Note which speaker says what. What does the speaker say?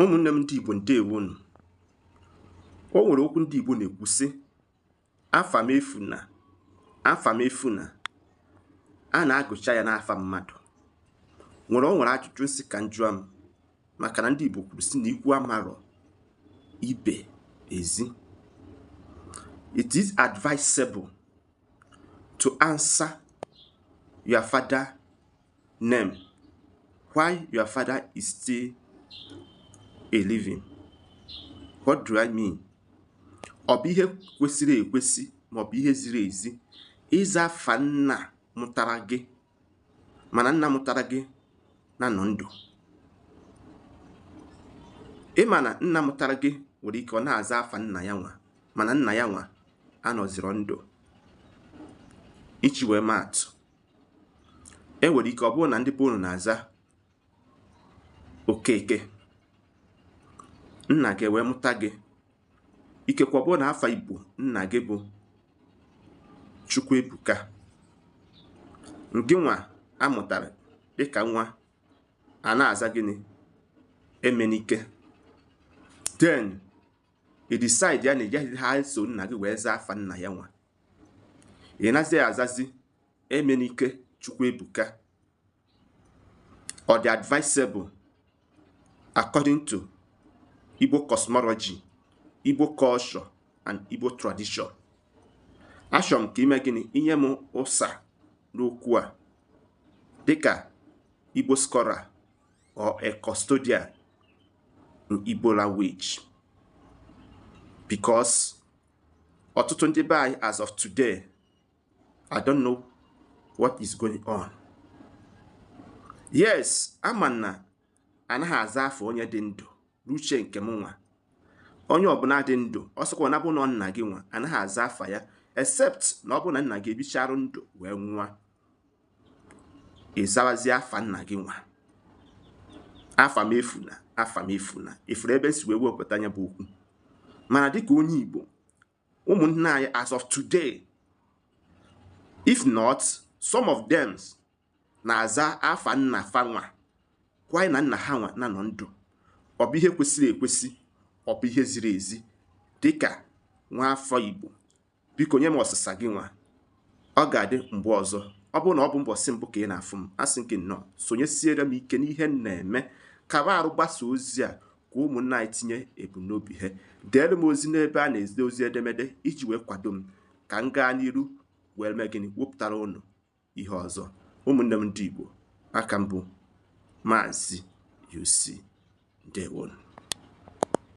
Speaker 1: ụmụnne m ndị Igbo ndewonu o nwere okwu ndị Igbo na-ekwu sị afa m efuna afa m efuna a na-agụcha ya n'afa mmadụ nwere o nwere ajụjụ nsị ka njụa m maka na ndị Igbo kwuru sị na ikwu amarọ ibe ezi it is advisable to answer your father name while your father is still a living what do i mean ọ bụ ihe kwesịrị ekwesị ma ọ bụ ihe ziri ezi ịza afa nna mụtara gị mana nna mụtara gị na nọ ndụ ị ma na nna mụtara gị nwere ike ọ na-aza afa nna ya nwa mana nna ya nwa anọzirọ ndụ iji wee maa atụ e nwere ike ọ bụrụ na ndị be unu na-aza okeke nna gị wee mụta gị ikekwe ọ bụrụ na afa igbo nna gị bụ chukwuebuka ngị nwa a mụtara dịka nwa a na-aza gịnị emenike then i decide ya na ị gaghị eso nna gị wee zaa afa nna ya nwa ị nazi azazi emenike chukwuebuka ọ dị advisable according to igbo cosmology igbo culture and igbo tradition achọrọ m ka i mee gịnị i nye m ụsa n'okwu a dịka igbo scholar or a custodian in igbo language because ọtụtụ ndị be anyị as of today i don't know what is going on yes ama m na anaghị aza afa onye dị ndụ n'uche nke m nwa onye ọbụla dị ndụ ọ sọkwa na bụ na nna gị nwa anaghị aza afa ya except na ọ bụ na nna gị ebicharụ ndụ wee nwụa ị zabazie afa nna gị nwa afa m efuna afa m efuna ị fụrụ ebe m si wee wepụta nya bụ okwu mana dịka onye Igbo ụmụnne anyị as of today if not some of them na-aza afa nna fa nwa kwanyị na nna ha nwa na nọ ndụ ọ bụ ihe kwesịrị ekwesị ọ bụ ihe ziri ezi dịka nwa afọ Igbo biko nye m ọsịsa gị nwa ọ ga-adị mgbe ọzọ ọ bụrụ na ọ bụ mbọsị mbụ ka ị na-afụ m asị m gị nnọọ sonyesiere m ike n'ihe m na-eme kaba arụ gbasaa ozi a ka ụmụnna anyị tinye ebumnobi ha deere m ozi n'ebe a na-ezite ozi edemede iji wee kwado m ka m gaa n'iru wee mee gịnị wepụtara unu ihe ọzọ ụmụnne m ndị Igbo aka m bụ maazị UC ndewonu